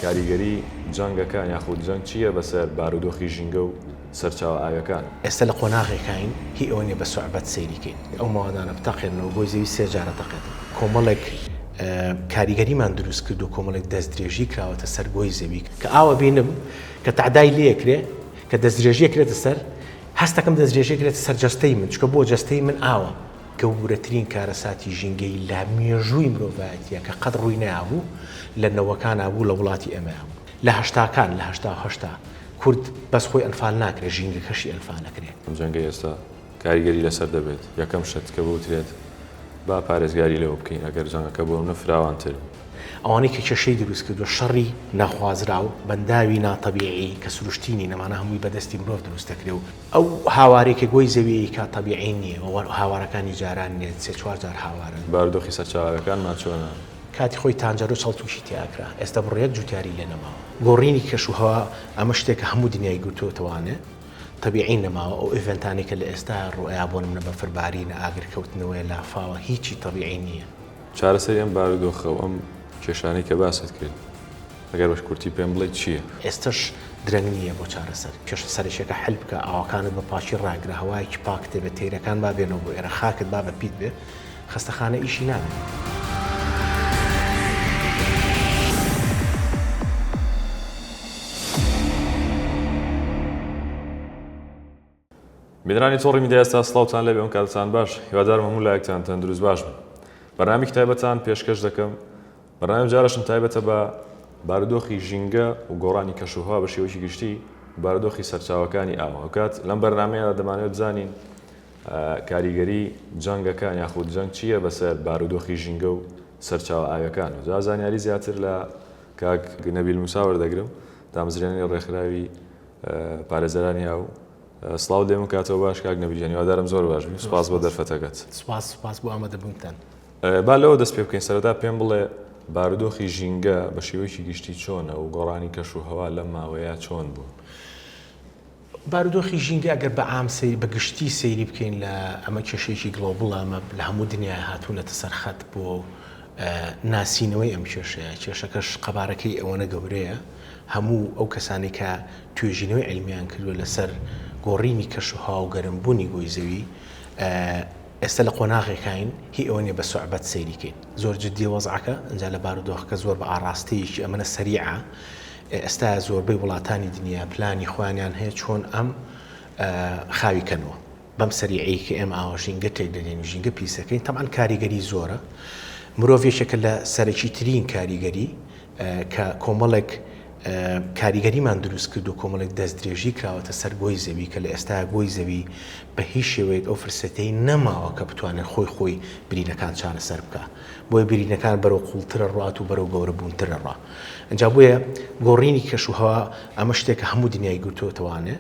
کاریگەری جەنگەکان یاخود جەنگ چی یە بەسەر بارودۆخی ژینگە و سەرچاوە ئاویەکان؟ ئێستا لە قۆناغێکاین هی ئەوە نیە بە سوعبەت سەیری کەین ئەو موادانە بتەقێننەوە بۆی زەوی سێ جارە تەقێتن کۆمەڵێک کاریگەریمان دروست کردوە کۆمەڵێک دەست درێژی کراوەتە سەر گۆی زەوی کە ئاوە بینم کە تەعدای لێ کرێ کە دەست درێژی ئەکرێتە سەر هەستەکەم دەست درێژی ئەکرێتە سەر جەستەی من چونکە بۆ جەستەی من ئاوە گەورەترین کارەساتی ژینگەیی لە مێژووی مرۆڤایەتییە کە قەت ڕووی نەیابوو لە نەوەکانا بوو لە وڵاتی ئێمەیا بوو لە هەشتاکان لە هەشتا و هەشتا کورد بەس خۆی ئەنفال ناکرێ ژینگەکەشی ئەنفال ئەکرێ. ئەم جەنگەی ئێستا کاریگەری لەسەر دەبێت یەکەم شت کە بوترێت با پارێزگاری لەوە بکەین ئەگەر جەنگەکە بۆ ئەونە فراوانتر بوو. ئەوانەی کە کێشەی دروست کردوە شەڕی ناخوازراو بەنداوی ناتەبیعی کە سروشتی نین ئەمانە هەمووی بەدەستی مرۆڤ دروست دەکرێ و ئەو هاوارەی کە گۆی زەوی ئەیکا تەبیعی نییە و هاوارەکانی جاران نییە، سێ چوار جار هاوارن. بارودۆخی سەرچاوەکانمان چۆنە؟ کاتی خۆی تانجەرو چڵ تووشی تێ ئەکرا، ئێستا بڕۆ یەک جووتیاری لێ نەماوە. گۆڕینی کەش و هەوا ئەمە شتێکە هەموو دنیای گرتۆتەوانێ، تەبیعی نەماوە، ئەو ئیڤێنتانەی کە لە ئێستایا ڕوئەیا بۆ نمونە بەفر بارینە، ئاگر کەوتنەوەیە، لافاوە، هیچی تەبیعی نییە. چارەسەری ئەم بارودۆخە و ئەم کێشانەی کە باست کرد ئەگەر بە کورتی پێم بڵێیت چییە؟ ئێستەش درەنگ نییە بۆ چارەسەر. کێشە سەرەکییەکە حەل بکە، ئاوەکانت بە پاکی ڕاگرە، هەوایەکی پاک تێ بێت، تەیرەکان با بێنەوە بۆ ئێرە، خاکت با بە پیت بێت. خەستەخانە ئیشی ناوێت. بینەرانی تۆڕی میدیا ئێستا سڵاوتان لێبێ ئەونکاتەتان باش هیوادارم هەموو لایەکتان تەندروست باش بن بەرنامێکی تایبەتان پێشکەش دەکەم بەرنامە جارشم تایبەتە بە بارودۆخی ژینگە و گۆڕانی کەشوهوا بە شێوەکی گشتی بارودۆخی سەرچاوەکانی ئاوە ئەوکات لەم بەرنمەیەدا دەمانێت بزانین کاریگەری جەنگەکان یاخود جەنگ چییە بەسەر بارودۆخی ژینگە و سەرچاوە ئاوەکان و زازانیاری زیاتر لە کاک نەبیل موسا وەردەگرم دامەزرێنەری ڕێکخراوی پارێزەرانی ئاو. سڵاوت لێ بکاتەوە باش کاک نەڤید گیان هیوادارم زۆر باش بیت سوپاس بۆ دەرفەتەکەت. سوپاس سوپاس بۆ ئامادەبوونتان. با لەوە دەست پێ بکەین سەرەتا پێم بڵێ بارودۆخی ژینگە بە شێوەیەکی گشتی چۆنە و گۆڕانی کەش و هەوا لەم ماوەیە چۆن بوون؟ بارودۆخی ژینگە ئەگەر بە عام سەیر بە گشتی سەیری بکەین لە ئەمە کێشەیەکی گڵۆبڵە ئەمە لە هەموو دنیای هاتوونەتە سەر خەت بۆ ناسینەوەی ئەم کێشەیە، کێشەکەش قەبارەکەی ئەوەنە گەورەیە، هەموو ئەو کەسانەی کە توێژینەوەی عیلمییان کردووە لەسەر گۆڕینی کەشوهەوا و گەرمبوونی گۆی زەوی، ئێستا لە قۆناغێکاین هی ئەوە نییە بە سوعبەت سەیری کەین. زۆر جدییە وەزعەکە، ئینجا لە بارودۆخەکە زۆر بە ئاڕاستەیەکی ئەمەنە سەریعە. ئێستا زۆربەی وڵاتانی دنیا پلانی خۆیانیان هەیە چۆن ئەم خاوی کەنەوە. بەم سەریعەی کە ئێمە ئاوا ژینگە تێک دەدەین و ژینگە پیسەکەین تەبعەن کاریگەری زۆرە مرۆڤ یەکێکە لە سەرەکی ترین کاریگەری کە کۆمەڵێک کاریگەریمان دروست کرد و کۆمەڵێک دەستدرێژی کراوەتە سەر گۆی زەوی کە لە ئێستا گۆی زەوی بە هیچ شێوەیەک ئەو فرسەتەی نەماوە کە بتوانێت خۆی خۆی برینەکان چارەسەر بکە بۆی برینەکان بەرەو قوڵترە ڕات و بەرەو گەورە بوونترە ڕا ئەجا بۆیە گۆڕینی کەش و هەوا ئەمە شتێکە هەموو دنیای گرتووەتەوانێ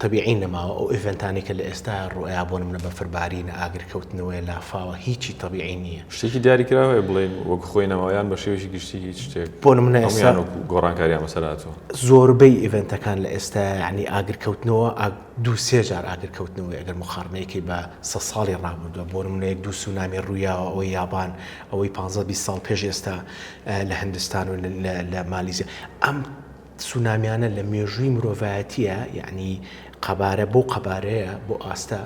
تەبیعی نەماوە ئەو ئیڤێنتانەی کە لە ئێستایا ڕوئەیا بۆ نمونە بەفربارینە ئاگر کەوتنەوەیە لافاوە هیچی تەبیعی نیە. شتێکی دیاری کراو هەیە بڵێین وەک خۆی نەماوە یان بە شێوەیەکی گشتی هیچ شتێک بۆ نمونە ئێستا هەموویان وەکو گۆڕانکاریان بەسەر هاتووە؟ زۆربەی ئیڤێنتەکان لە ئێستایا یانی ئاگر کەوتنەوە ئاگ دوو سێ جار ئاگر کەوتنەوەی ئەگەر موقاڕنەی کەی بە سەد ساڵی ڕابوردوە بۆ نمونە یەک دوو سونامی ڕویاوە ئەوەی یابان ئەوەی پانزە بیست ساڵ پێش ئێستا لە هندستان و لە مالیزیا ئەم تسونامیانە لە مێژووی مرۆڤایەتیە یەعنی قەبارە بەو قەبارەیە بۆ ئاستە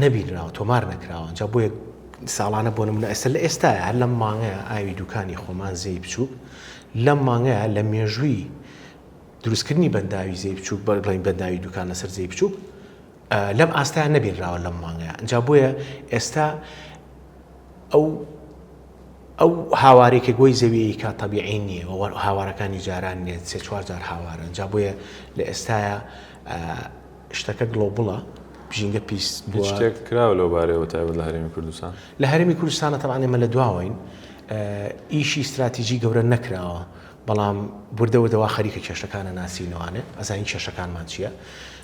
نەبینراوە تۆمار نەکراوە ئەنجا بۆیە ساڵانە بۆ نمونە ئێستا لە ئێستایە هەر لەم مانگەیە ئاوی دوکانی خۆمان زێی بچووک لەم مانگەیە لە مێژووی دروستکردنی بەنداوی زێی بچووک بەر بڵین بەنداوی دوکان لەسەر زێی بچووک لەم ئاستایان نەبینراوە لەم مانگەیە ئەنجا بۆیە ئێستا ئەو ئەو هاوارەی کە گۆی زەویی کە تەبیعی نییە و وەک هاوارەکانی جاران نییە، سێ چوار جار هاوارە، ئینجا بۆیە لە ئێستایا شتەکە گڵۆبڵە، ژینگە پیس بووە. هیچ شتێک کراوە لەو بارەیەوە تایبەت لە هەرێمی کوردستان؟ لە هەرێمی کوردستانا تەبعەن ئێمە لە دواوەین، ئیشی ستراتیجی گەورە نەکراوە، بەڵام وردە وردە وا خەریکە کێشەکانە ناسینەوانێ ئەزانین کێشەکانمان چیە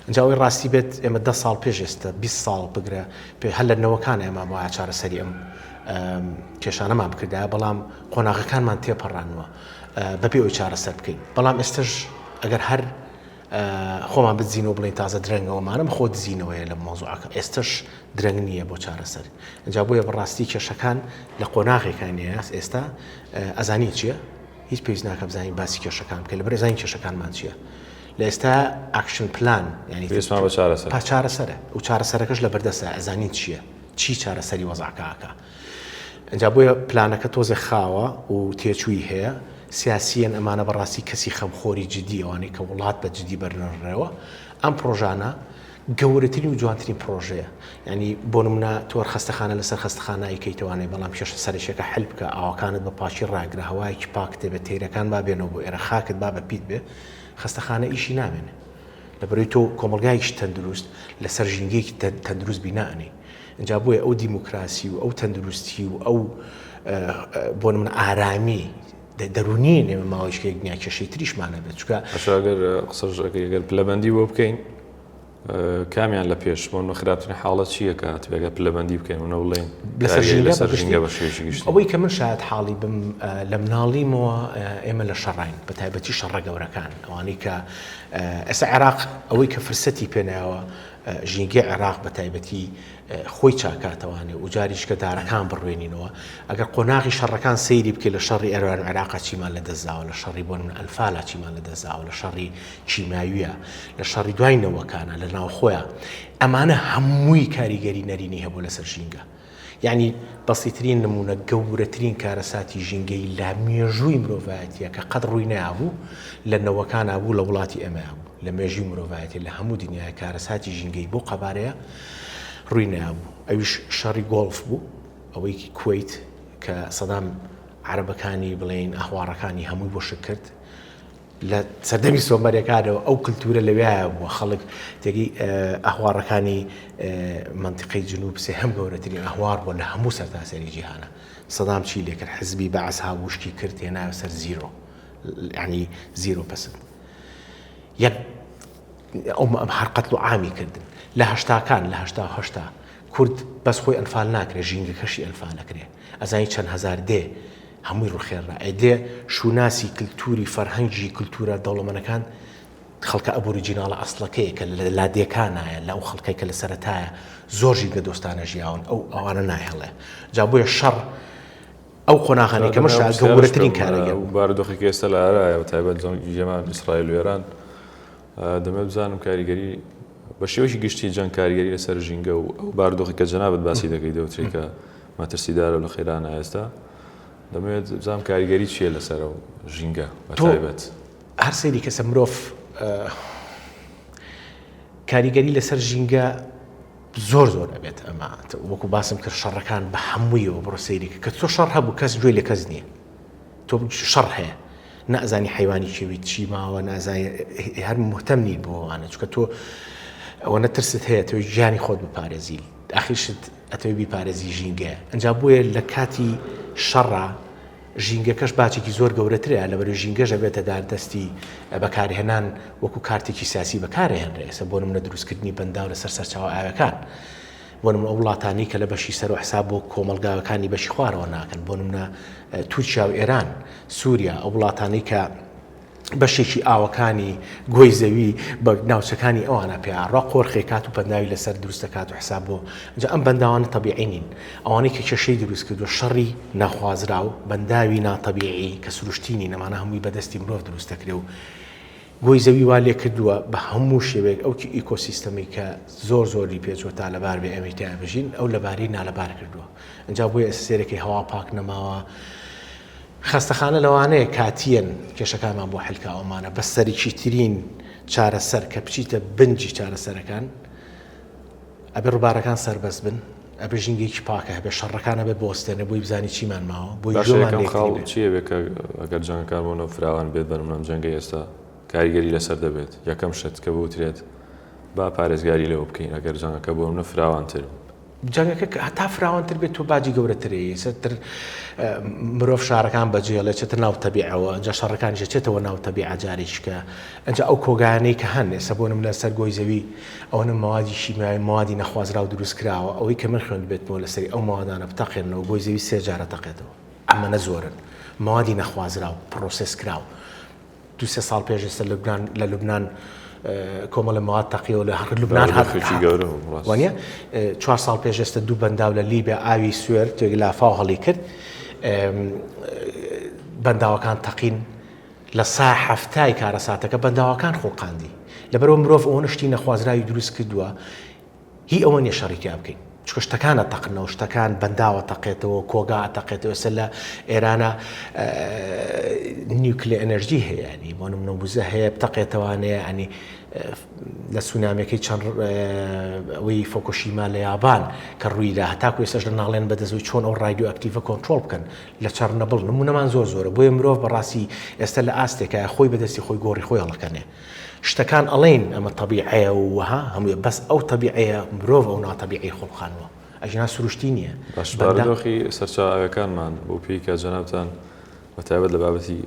ئینجا ئەوەی ڕاستی بێت ئێمە دە ساڵ پێش ئێستە بیست ساڵ بگرە پێ هەر لە نەوەکانە ئێمە بۆ چارەسەری ئەم کێشانەمان بکردایە بەڵام قۆناغەکانمان تێپەڕانوە بەبێ ئەوی چارەسەر بکەین بەڵام ئێستەش ئەگەر هەر خۆمان بدزین و بڵێین تازە درەنگە وەمانم خۆ دزینەوەیە لە مەوزوعەکە ئێستەش درەنگ نییە بۆ چارەسەر ئەجا بۆیە بەڕاستی کێشەکان لە قۆناغێکان نیاس ئێستا ئەزانی چییە هیچ پێویست ناکە بزانین باسی کێشەکان کە لە بەرێزانی کێشەکانمان چییە لە ئێستا ئاکشن پلان ینی چارەسەرە و چارەسەرەکەش لە بەردەسە ئەزانین چییە چی چارەسەری وەزعکەکە ئینجا بۆیە پلانەکە تۆزێ خاوە و تێچووی هەیە، سیاسییەن ئەمانە بەڕاستی کەسی خەمخۆری جدی ئەوانەی کە وڵات بە جدی بەرنە ڕێوە ئەم پڕۆژانە گەورەترین و جوانترین پڕۆژەیە یعنی بۆ نمونە تۆر خەستەخانە لەسەر خەستەخانایی کەیتوانێ بەڵام کێشە سەرەکیەکە حل بکە ئاوەکانت بە پاکی ڕاگرە هەوایەکی پاک تێبێ تەیرەکان با بێنەوە بۆ ئێرە خاکت با بە پیت بێ خەستەخانە ئیشی نامێنێ لەبەرەی تۆ کۆمەلگایەکی تەندروست لەسەر ژینگەیەکی تەندروست بینائەنی ئینجا بۆیە ئەو دیموکراسی و ئەو تەندروستی و ئەو بۆ نمونە ئارامی دەرونی نێوە ماوەیشکێک دنیا کێشەی تریشمان نەبێت چکە ئەشگەر قسەژەکەگەر پلەبندی بۆ بکەین کامیان لە پێش بۆن بە خراپترین حاڵە چیەکە تێگە پلەبندی بکەین و نەوڵێن ئەوەی کە من شاید حاڵی بم لە مناڵیمەوە ئێمە لە شەڕین بە تایبەتی شەڕە گەورەکان ئەوانەی کە ئێستا عێراق ئەوەی کە فرسەتی پێناوە ژینگەی عێراق بە تایبەتی خۆی چاکاتەوانێ و جاریش کە دارەکان بڕوێنینەوە ئەگەر قۆناغی شەڕەکان سەیری بکەی لە شەڕی ئێران و عێراقا چیمان لە دەستداوە لە شەڕی بۆ نمونە ئەنفالا چیمان لە دەستداوە لە شەڕی کیماویە لە شەڕی دوای نەوەکانە لە ناوخۆیە ئەمانە هەمووی کاریگەری نەرینی هەبوو لەسەر ژینگە. یانی بەسیترین نموونە گەورەترین کارەساتی ژینگەیی لە مێژووی مرۆڤایەتیە کە قەت ڕووی نەیابوو لە نەوەکانا بوو لە وڵاتی ئێمەیا بوو لە مێژووی مرۆڤایەتی لە هەموو دنیای کارەساتی ژینگەیی بەو قەبارەیە ڕووی نەیابوو ئەویش شەڕی گۆڵف بوو ئەوەی کوەیت کە سەدام عەرەبەکانی بڵێین ئەهواڕەکانی هەمووی بۆ شک کرد لە سەردەمی سۆمەرەکانەوە ئەو کلتورە لەوێایە بووە خەڵک تێگەی ئەهواڕەکانی منتیقەی جنوب سێ هەم گەورەترین ئەهوار بووە لە هەموو سەرتاسەری جیهانە سەدام چی لێکرد حزبی بەعس هاوشکی کرد تێنا سەر زیرۆ ینی زیرۆ پسند یەک ئەو هەر قەتل و عامی کردن لە هەشتاکان لە هەشتا هەشتا کورد بەس خۆی ئەنفال ناکرێ ژینگەکەشی ئەنفال ئەکرێ ئەزانی چەند هەزار دێ هەمووی ڕوخێررا ئەی دێ شوناسی کلتوری فەرهەنگی کلتورە دەوڵەمەنەکان خەڵکە ئەبوریجیناڵە ئەسڵەکەیە کە لە لادێکانایە لە ئەو خەڵکەی کە لە سەرەتایە زۆر ژینگە دۆستانە ژیاون ئەو ئەوانە نایهڵێ جا بۆیە شەڕ ئەو قۆناغانی کە مەشا گەورەترین کارەگە بارودۆخی کە ئێستا لە ئارایە و تایبەت جەنگی جێمان ئیسرائیل و ئێران دەمەوێت بزانم کاریگەری بە شێوەیەکی گشتی جەنگ کاریگەری لەسەر ژینگە و ئەو باردۆخی کە جەنابت باسی دەکەی دەوتری کە مەترسیدارە و لە قەیرانە ئێستا دەمەوێت بزانم کاریگەری چییە لەسەر و ژینگە بە تایبەت هەر سەیری کەسە مرۆڤ کاریگەری لەسەر ژینگە زۆر زۆر ئەبێت ئەمە وەکو باسم کرد شەڕەکان بە هەموویەوە بڕۆ سەیرێک کە چۆ شەڕ هەبوو کەس گوێی لە کەس نییە تۆ شەڕ هەیە نازانی حیوانی کێوی چی ماوە نازای هەر مهتەم نیت بۆوانە چکە تۆ ئەوە نەترست هەیە تۆی ژیانی خۆت بپارێزی ئاخیشت ئەتەوی بیپارێزی ژینگەیە ئەجا بۆیە لە کاتی شەڕە ژینگەکەش باچێکی زۆر گەورەترە لە بەرو ژینگەژە بێتە دار دەستی بەکارهێنان وەکو کارتێکی سیاسی بەکارهێنرێسە بۆ منە دروستکردنی بەنداو لەسەر سەرچاو ئاوەکان بۆ نموونە ئەو وڵاتانەی کە لە بەشی سەرو حساب بۆ کۆمەڵگاکانی بەشی خوارەوە ناکەن بۆ نموونە تورکیا و ئێران، سوریا، ئەو وڵاتانەی کە بەشێکی ئاوەکانی گۆی زەوی بە ناوچەکانی ئەوانە پێڕا قۆرخێ کات و پەنداوی لەسەر دروستە کات و حساب بۆ جا ئەم بەنداوانە تەبیعی نین ئەوانەی کە کێشەی دروست کردو شەڕی ناخوازرا و بەنداوی ناتەبیعی کە سروشتینی نەمانە هەمووی بەدەستی مرۆڤ دروستەکرێ و گۆی زەوی وا لێکردووە بە هەموو شێوەیەک ئەو ئیکۆسیستەمەی کە زۆر زۆر لی پێچووە تا لەبار بێ ئێمەی تیا بژین ئەو لەبارەی نالەبار کردووە ئەنجا بۆیە ئێستا سێرەکەی هەوا پاک نەماوە خەستەخانە لەوانەیە کاتیەن کێشەکانمان بۆ حلکاوەمانە بەس سەرکیترین چارەسەر کە بچیتە بنجی چارەسەرەکان ئەبێ ڕوبارەکان سەربەست بن، ئەبێ ژینگەیەکی پاکە هەبێ، شەڕەکان ئەبێ بوەستێنێ بۆی بزانێ چیمان ماوە، بۆی گوێمان لێ کڕی بێ. باشە یەکەم خاڵ چی ئەبێ کە ئەگەر جەنگە کار بۆ نەوت فراوان بێت بەرملام جەنگەی ئێستا کاریگەری لەسەر دەبێت یەکەم شت کە بوترێت با پارێزگاری لەوە بکەین ئەگەر جەنگەکە بۆمنە فراوانتر جەنگەکە هەتا فراوانتر بێت تۆ باجی گەورەترەیە چەتر مرۆڤ شارەکان بەجێڵێ چێتە ناو تەبیعەوە ئەجا شەڕەکانیشە چێتەوە ناو تەبیعە جارێکیکە ئەجا ئەو کۆگانەی کە هەن ئێستا بۆ نمونە سەر گۆی زەوی ئەوەنە مەوادی شیمیایی و مەوادی نەخوازراو دروست کراوە، ئەوەی کە من خوێندبێتمەوە لە سەری ئەو مەوادانە بتەقێننەوە گۆی زەوی سێ جار ئەتەقێتەوە. ئەمەنە زۆرن مەوادی نەخوازراو، پڕۆسێس کراو. دوو سێ ساڵ پێش ئێستا لوبنان لە لوبنان کۆمەڵێ مەواد تەقیەوە لە لوبنان هات دۆخێکی گەورە بوو ڕاست. وانیە؟ چوار ساڵ پێش ئێستا دوو بەنداو لە لیبیا ئاوی سوێر تێک لافاو هەڵیکرد. بەنداوەکان تەقین. لە سا حەفتای کارەساتەکە بەنداوەکان خوڵقاندی لەبەرئەوە مرۆڤ ئەوەنە شتی نەخوازراوی دروست کردوە هی ئەوە نیە شەڕی تیا بکەین چکە شتەکان ئەتەقنەوە شتەکان بەنداوە تەقێتەوە کۆگا ئەتەقێتەوە ئێستا لە ئێرانە نیوکلێ ئەنەرژی هەیە ینی بۆ نمونە وزە هەیە بتەقێتەوانەیە ئەنی لە سونامەکەی چەند ئەوەی فۆکۆشیما لە یابان کە ڕوویدا هەتاکو ئێسش لە ناڵێن بەدەزوی چۆن ئەو ڕایدو ئەکتیڤە کۆنتترۆل بکەن لە چەڕنەبڵ نمونەمان زۆر زۆرە بۆیە مرۆڤ بەڕاستی ئێستا لە ئاستێکایە خۆی بەدەستی خۆی گۆڕی خۆی هەڵەکەنێ شتەکان ئەڵێن ئەمە تەبیعەیە و وەها هەمووی بەس ئەو تەبیعەیە مرۆڤ ئەو ناتەبیعی خۆڵخانوە ئەژنا سروشتی نییە بەشبارەدۆخی سەرچاو ئاوەکانمان بۆ پێی کا جەنابان بەتایبەت لە بابەتی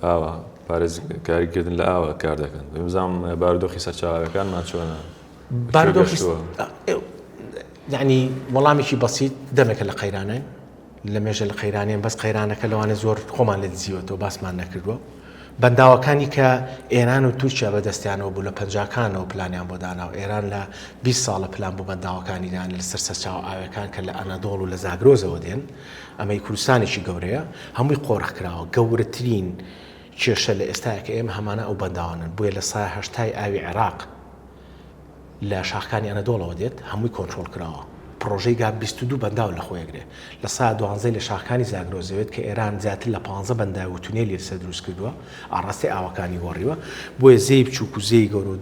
ئاوە پارێز کاریکردن لە ئاوە کار دەکەن بزانام بارودۆخی سەرچاوەکانمان چۆنە باردۆخی یعنی وەڵامێکی بەسییت دەمێکە لە قەیرانای لەمێژە لە قەیرانێن بەس قەیرانەکە لەوانە زۆر خۆمان لێ دزیوەتەوە باسمان نەکردووە بەنداوەکانی کە ئێران و تورکیا بەدەستیانەوە بوو لە پەنجاکانەوە پلانیان بۆ داناو ئێران لە 20 ساڵە پلان بۆ بەنداوەکانی دان لەسەر سەرچاوە ئاوەکان کە لە ئەنەدۆڵ و لە زاگرۆزەوە دێن ئەمەی کوردستانێکی گەورەیە هەمووی قۆرخ کراوە گەورەترین کێشە لە ئێستاکە ئێمە هەمانە ئەو بەنداوانن بۆیە لە سایە هەشتای ئاوی عێراق لە شاخکانی ئەنەدۆڵەوە دێت هەمووی کۆنترۆڵ کراوە پڕۆژەی گا بیست و دوو بەنداو لە خۆیەگرێ لە سا دوانزەی لە شاخکانی زاگرۆس دەوێت کە ئێران زیاتر لە پانزە بەنداو و تونێلی لەسەر دروست کردووە ئاڕاستەی ئاوەکانی گۆڕیوە بۆیە زێی بچووک و زێی گەورە و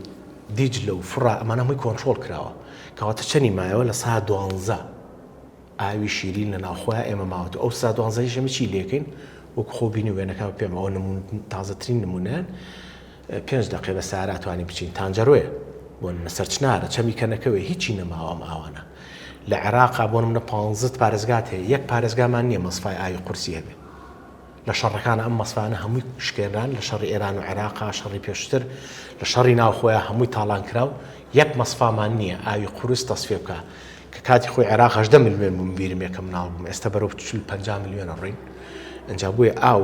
دیجلە و فڕا ئەمانە هەمووی کۆنترۆڵ کراوە کەواتە چەنی مایەوە لە سا دوانزە ئاوی شیرین لە ناوخۆیان ئێمە ماوەتەوە ئەو سا دوانزەیش ئێمە چی لێکەین وەکو خۆ بینی وێنەکان پێمەوە نمون تازەترین نمونەیان پێنج دەقەیە بە سارا توانین بچین تانجەرۆیە بۆ نمونە سەرچنارە چەمی کەنەکەوێ هیچی نەماوە ئەم ئاوانە لە عێراقا بۆ نمونە پانزە پارێزگات هەیە یەک پارێزگامان نییە مەسفای ئاوی قورسی هەبێ لە شەڕەکانە ئەم مەسفانە هەمووی شکێنران لە شەڕی ئێران و عێراقا شەڕی پێشتر لە شەڕی ناوخۆیان هەمووی تاڵان کرا و یەک مەسفامان نییە ئاوی قورس تەسفێ بکە کە کاتی خۆی عێراق هەژدە ملیۆن بووم بیرم یەکەم ناڵ بووم ئێستا بەرەو چل پەنجا ملیۆنە ڕووین ئەنجا بۆیە ئاو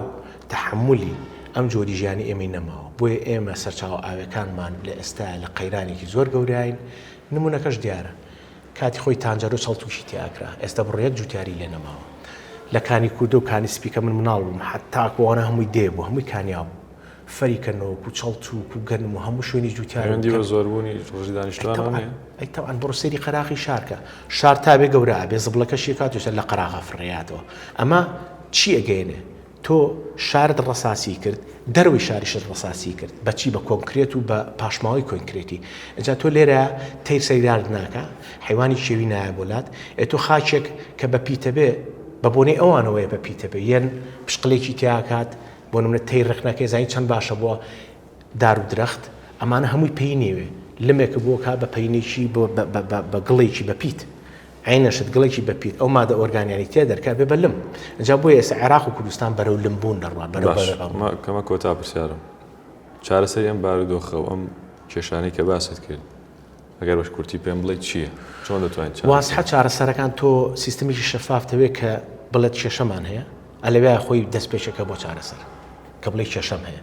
تەحەمولی ئەم جۆری ژیانی ئێمەی نەماوە، بۆیە ئێمە سەرچاوە ئاویەکانمان لە ئێستایا لە قەیرانێکی زۆر گەوراین، نمونەکەش دیارە کاتی خۆی تانجەرۆ چەڵتوشی تیاکرا ئێستا بڕە یەک جوتیاری لێ نەماوە لە کانی کوردو کانی سپی کە من مناڵ بووم حەتا کۆرە هەمووی دێ بوو هەمووی کانیاو بوو فەری کە نۆک و چەڵتو و گەنم و هەموو شوێنی جوتیار دیوە زۆربوونی ڕژی دانیشتوانە ئەیتەوان بڕۆ سەیری قەراخی شارکە شار تاێ گەورە بێ زبڵەکەشی کاتوسە لە قەراغا فڕێاتەوە ئەمە چی ئەگەێنێ تۆ شارت ڕەساسی کرد دەرەوەی شاریشت ڕەساسی کرد بەچی بە کۆنکرێت و بە پاشماوەی کۆینکرێتی ئینجا تۆ لێرە تەیر سەری دارت ناکا حەیوانی کێوی نایە بۆ لات ئێ تۆ خاکێک کە بە پیتە بێ بە بۆنەی ئەوانەوەیە بە پیتە بێ یەن پشقلێکی تیا کات بۆ نمونە تەیر ڕێک نەکەی زانی چەند باشە بۆ دار و درەخت ئەمانە هەمووی پەی نێوێ لمێکە بۆ کا بە پەینێکی بۆ بە گڵێکی بە پیت عەینە شت گڵێکی بە پیت ئەو مادە ئۆرگانیانی تێ دەرکە بێ بە لم ئەجا بۆ ئێسە عێراق و کوردستان بەرەو لم بوون دەڕوا بەرەوە کەمە کۆتا پرسیارم چارەسەری ئەم بارودۆخە و ئەم کێشانەی کە باست کرد ئەگەر بەش کورتی پێم بڵێ چییە چۆن دەتوانین واسحە چارەسەرەکان تۆ سیستمیکی شەفافتەوێت کە بڵێت کێشەمان هەیە ئەلەوێ خۆی دەستپێکەکە بۆ چارەسەر کە بڵێ کێشەم هەیە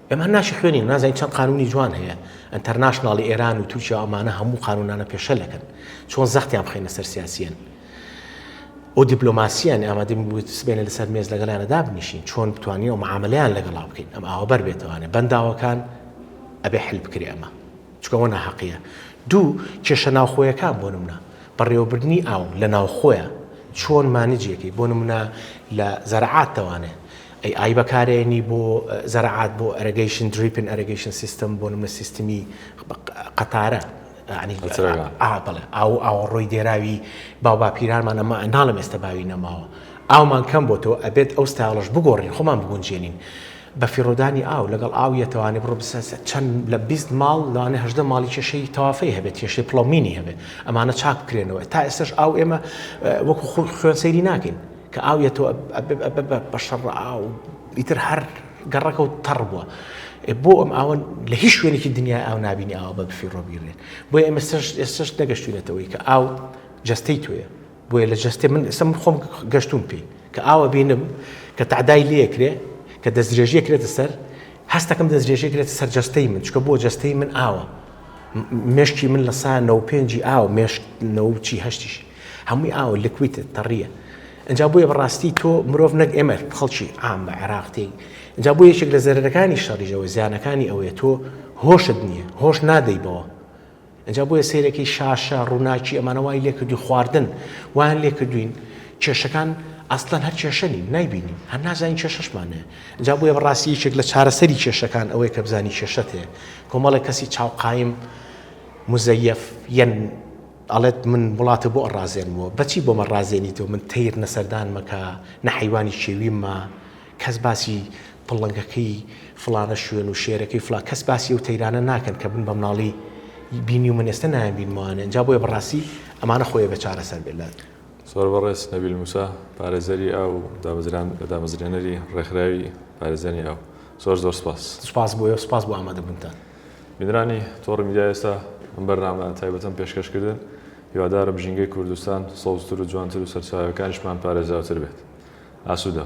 ئێمە هەر ناشی خوێنین نازانین چەند قانونی جوان هەیە ئەنتەرناشناڵی ئێران و تورکیا و ئەمانە هەموو قانونانە پێشەلەکەن چۆن زەختیان بخەینە سەر سیاسیەن ئەو دیپلۆماسییان ئامادەم بوویت سبێنە لەسەر مێز لەگەلانە دابنیشین چۆن بتوانین و معاملیان لەگەڵا بکەین ئەم ئاوە بەر بێتوانێ بەنداوەکان ئەبێ حل بکرێ ئەمە چکەوە ناحەقیە دوو کێشە ناوخۆیەکان بۆ نمونە بەڕێوەبردننی ئاو لە ناوخۆیە چۆن مانجیەکەی بۆ نمونە لە زەرعات تەوانێ ئەی ئای بەکارێنی بۆ زەرەعات بۆ ئەرەگەیشن دریپن ئەرەگەیشن سیستم بۆ نمونە سیستمی قەتارە یانی ئا بەڵێ ئاو ئاوەڕۆی دێراوی باو باپیرانمان ئەمە ناڵێم ئێستا باوی نەماوە ئاومان کەم بۆ تۆ ئەبێت ئەو ستایڵش بگۆڕین خۆمان بگونجێنین بە فیڕۆدانی ئاو لەگەڵ ئاو یەتەوانی بڕۆ بسە چەند لە بیست ماڵ لەوانێ هەژدە ماڵی کێشەی تەوافەی هەبێت کێشەی پڵۆمینی هەبێت ئەمانە چاک بکرێنەوە تا ئێستاش ئاو ئێمە وەکو خوێن سەیری ناکەین کە ئاو یەتەوە بە شەڕە ئاو ئیتر هەر گەڕەکە و تەڕ بووە بۆ ئەم ئاوە لە هیچ شوێنێکی دنیای ئاو نبینی ئاوە بە بفی ڕۆبیێت بۆ ئێمە ئێستش نەگەشتوینەتەوەی کە ئاو جستەی توێە بۆیە لە جستێ من ئێستا من خۆم گەشتون پێی کە ئاوە بینم کە تعدای لەکرێ کە دەستدرێژیە کرێتە سەر هەستەکەم دەستدرێژیە کرێت سەر جستەی من چکە بۆ جستەی من ئاوە مشکی من لە سا نەو پێنجی ئاو مشک نەوچی هەشتیشی هەمووی ئاوە لکویتە تەڕیە ئنجا بۆیە بەڕاستی تۆ مرۆڤ نەک ئێمە خەڵکی عام بە عێراق تێی ئنجا بۆ یەکێک لە زەرەرەکانی شەڕیژەوە زیانەکانی ئەوەیە تۆ هۆشت نییە هۆش نادەی بەوە ئەجا بۆیە سیرەکەی شاشە ڕووناکی ئەمانە وای لێکردوی خواردن وان لێکردوین کێشەکان ئەسلەن هەر کێشەنی نایبینین هەر نازانین کێشەشمانە جا بۆیە بەڕاستی یەکێک لە چارەسەری کێشەکان ئەوەیە کە بزانی کێشەت هەیە کۆمەڵێک کەسی چاوقایم مزەیف یەن ئەڵێت من وڵاتە بۆ ئەڕازێنمەوە بەچی بۆم ئەڕازێنیتەوە من تەیر نە سەردان مەکە نە حەیوانی کێویم مە کەس باسی پڵنگەکەی فڵانە شوێن و شێرەکەی فڵان کەس باسی ئەو تەیرانە ناکەن کە من بە مناڵی بینیومن ئێستە نایان بینمەوانێ ئەنجا بۆیە بەڕاستی ئەمانە خۆیە بێ چارەسەر بێ لە سوپاس بەڕێز نەبیل موسا پارێزەری ئاو و دامەزرێنەری ڕێکخراوی پارێزانی ئاو زۆر زۆر سوپاس. سوپاس بۆ ئێوە سوپاس بۆ ئامادەبوونتان. بینرانی تۆڕی میدیا ئێستا ئەم بەرنامە تایبەتەم پێشکەش کردن هیوادارم ژینگەی کوردستان سەوزتر و جوانتر و سەرچاوەکانیشمان پارێزراوتر بێت ئاسوودە.